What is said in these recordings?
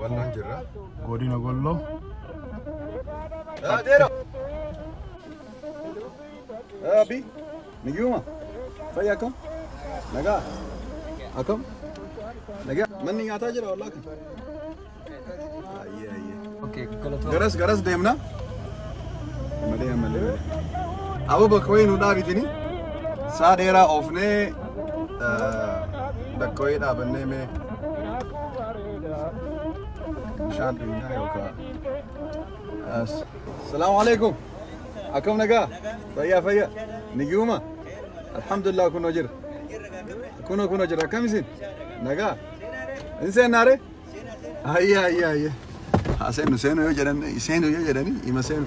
Walloo jirra. Godina Walloo. Adeero. Abi. Nagiyuma. Fayyaa akkam? Nagaa. Akkam? Nagaa. Manni nyaataa jira wallaa kan. Okay, galatoo. Garas garas deemna. Malee malee malee. Aboo bakka wayii nu dhaabitini. Saa dheeraa oofnee eh, bakka wayii dhaabannee mee bishaan dhugnaa yookaan. As. Salaamu alaikum. Akkam nagaa? Fayyaa fayyaa. Nigiyuma? Alhamdulillah kunoo jira. Kunoo kunoo jira. Akkam isin? Nagaa? Hin seennaaree? Ayya ayya ayya. Haa seenu seenu yoo jedhan seenu yoo jedhani ima seenu.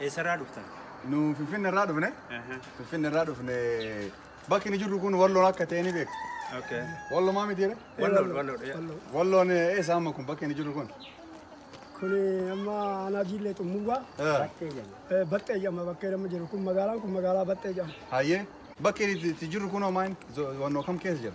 Eessarraa dhuftan? Nu Finfinne irraa dhufne. Finfinne irraa dhufne. Bakki inni jirru kun walloon akka ta'e ni beektu. Okay. Walloo maa miti jedhe? Walloon, walloon. Walloon. Walloon eh, eessa amma kun bakki inni jirru kun? Kun amma aanaa jiillee xummuugaa Eh, Battee jenna. eh, baxxee jedhama bakkee nama jiru kun magaalaan kun magaalaa baxxee jedhama. Hayyee. Bakki inni itti jirru kun hoo maal? Zo- Wannoo kam keessa jira?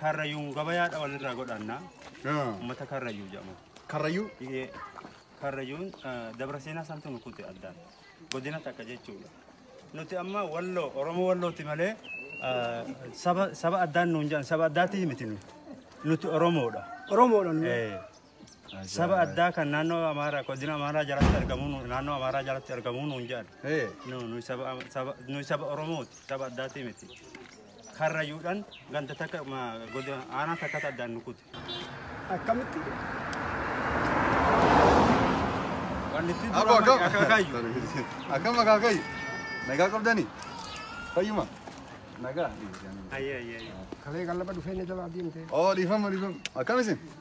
Karrayyuun gabayaadha walirraa godhanna. Uummata Karrayyuu jedhamu. Karrayyuu? Ee, Karrayyuun eh, dabra seenaa santu nu kute addaan. Godina takka jechuudha. Nuti amma walloo Oromoo wallooti malee eh, saba saba addaan nuun jedhan saba addaatii miti nu. Nuti Oromoodha. Oromoodha. nu. Ee, Saba addaa kan naannoo Amaaraa godina Amaaraa jalatti argamu nu- naannoo Amaaraa jalatti argamu nuun jedhan. Ee. Nu- Nuyi saba Am- saba- nuyi saba Oromooti saba addaatii miti. Karrayyuudhaan ganda takka ma- godina aanaa takkatti addaan nu kute. Akkamitti? Wanti itti Abbo duraan akkam? akaakayyu. Akkam akaakayyu? Nagaa qabdanii? Fayyuma? Nagaa? Ayyee ayyee ayyee. Kalee gallaba dhufee na jalaa deemte. Oo dhiifama dhiifama. Akkam isin?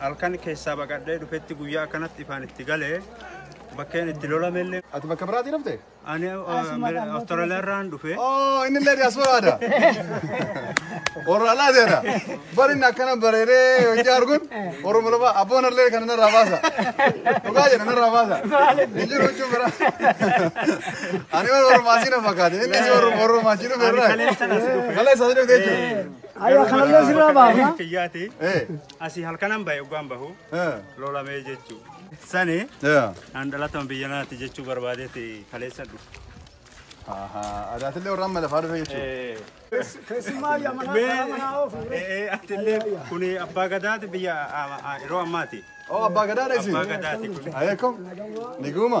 Halkan keessaa baqadhee dhufetti guyyaa akkanatti ifaan itti galee bakkeen itti lolamelle. Ati bakka biraatii dhufte? Ani Awustiraaliyaa irraan dhufe. Oo inni illee diyaasporaadha. Oraalaa jedha. Bari inni akkana bareedee hojii arguun Oromo lafa abboon illee kana narraa baasa. Dhugaa jedha narraa baasa. Hin jiru jechuun bira. Ani warra Oromaasii na fakkaate. Inni si warra Oromaasii dhufe irraa. Kaleessa as dhufe. Kaleessa as dhufe jechuudha. Aywa, kanalee sirraa baafna. Kiyyaati. Eh. Asii halkanan bahe oggaan bahu lolamee jechuu. Sani an dhalatama biyya naati jechuu barbaadeeti kaleessa dhufu. Adaatillee warra amma lafaa dhufe jechuudha. Keessumaa yamanaa karaa manaa oofu. Atillee kun abbaa gadaati biyya yeroo ammaati. Oo abbaa gadaadha isin. Abbaa gadaati kun. Ayeekum. Niguuma.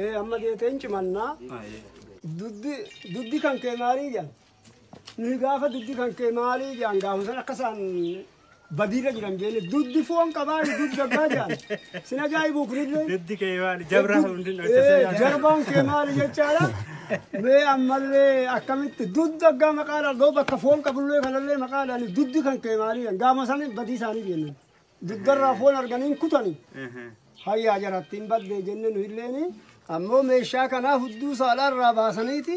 Ee amma geetee hin cimannaa. Duddi duddi kan kee maalii jedhan. Nuyi gaafa duddi kan kee maalii jedhan gaafa san akka isaan badiirra jiran jeenne duddi foon qabaa duddi daggaa jedhan. Sin ajaa'ibuu kunillee. Duddi kee maali? Jabraa hundi Ee, jarbaan kee maali jechaadha. Mee ammallee akkamitti duddi daggaa maqaadhaan dhoo bakka foon qabullee kanallee maqaadhaan duddi kan kee maalii jedhan. Gaafa san badii isaanii jeennan. Dugdarraa foon arganii hin kutani. Hayyaa jaratti hin badde jenne nu illeeni. Ammoo meeshaa kanaa hudduu saalaarraa baasaniiti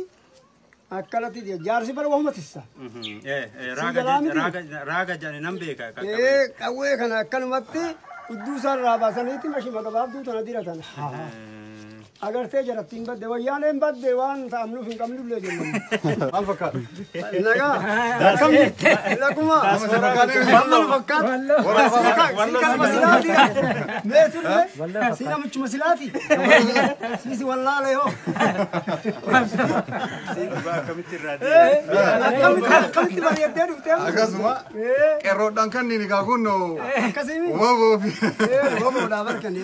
akkanatti je- jaarsi bara wahuma tissa. Raaga jedhani nan beeka. Ee qawwee kana akkanumatti hudduu isaarraa baasaniiti mashima gabaabduu tana diratan. Agartee jarattiin badde wayyaaneen badde waan ta'amnuuf hin qabnullee jenna. Maal fakkaata? Nagaa. Akkam jirti? Laguma. Maal fakkaata? Siikama silaati. Mee turre? Siikamichuma silaati. Siisi wallaalee hoo. Akkamitti irraa Akkamitti akkamitti bareeddee dhuftee? Akkasuma qeerroodhaan kan inni egaa kun Akkasii. waboo fi Ee, boboodhaa barkanii.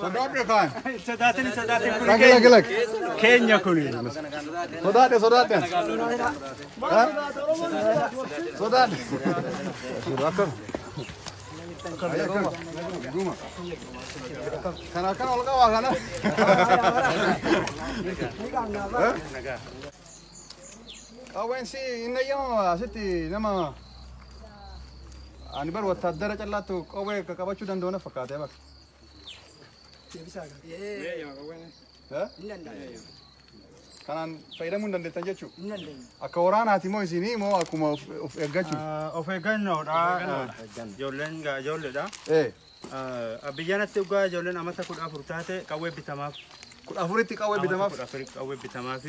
Sodaadhe kaan. Sodaatin sodaatin kun Lagi lagi lagi. keenya kun. Sodaadhe sodaadhe. Ha? Sodaadhe. Bakka. Guma. Kana kan olga waa kana. Qawween si hin eeyyamamu asitti nama ani bar wattaaddara callaattu qawwee akka qabachuu danda'u na fakkaatee bar. Kanaan fayyadamuu hin dandeettan jechuudha. Akka waraanaati moo isinii moo akkuma of eeggachuu? Of eeggannoodha. Ijoolleen gaa ijoolleedha. Ee. Abiyyanatti dhugaa ijoolleen amata kudha afur taate qawwee bitamaaf. Kudha afuritti qawwee bitamaaf. Kudha afuritti qawwee bitamaaf.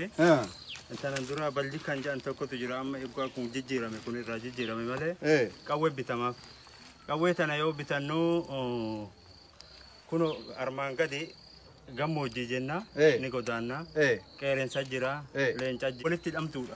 Intanan dura balji kan jedhan tokkotu jira amma egaa kun jijjiirame kun irraa jijjiirame malee qawwee bitamaaf. Qawwee tana yoo bitannu kun armaan gadi gammoojjii jenna ni godaanna qeereensa jira leenca jira walitti hidhamtuudha.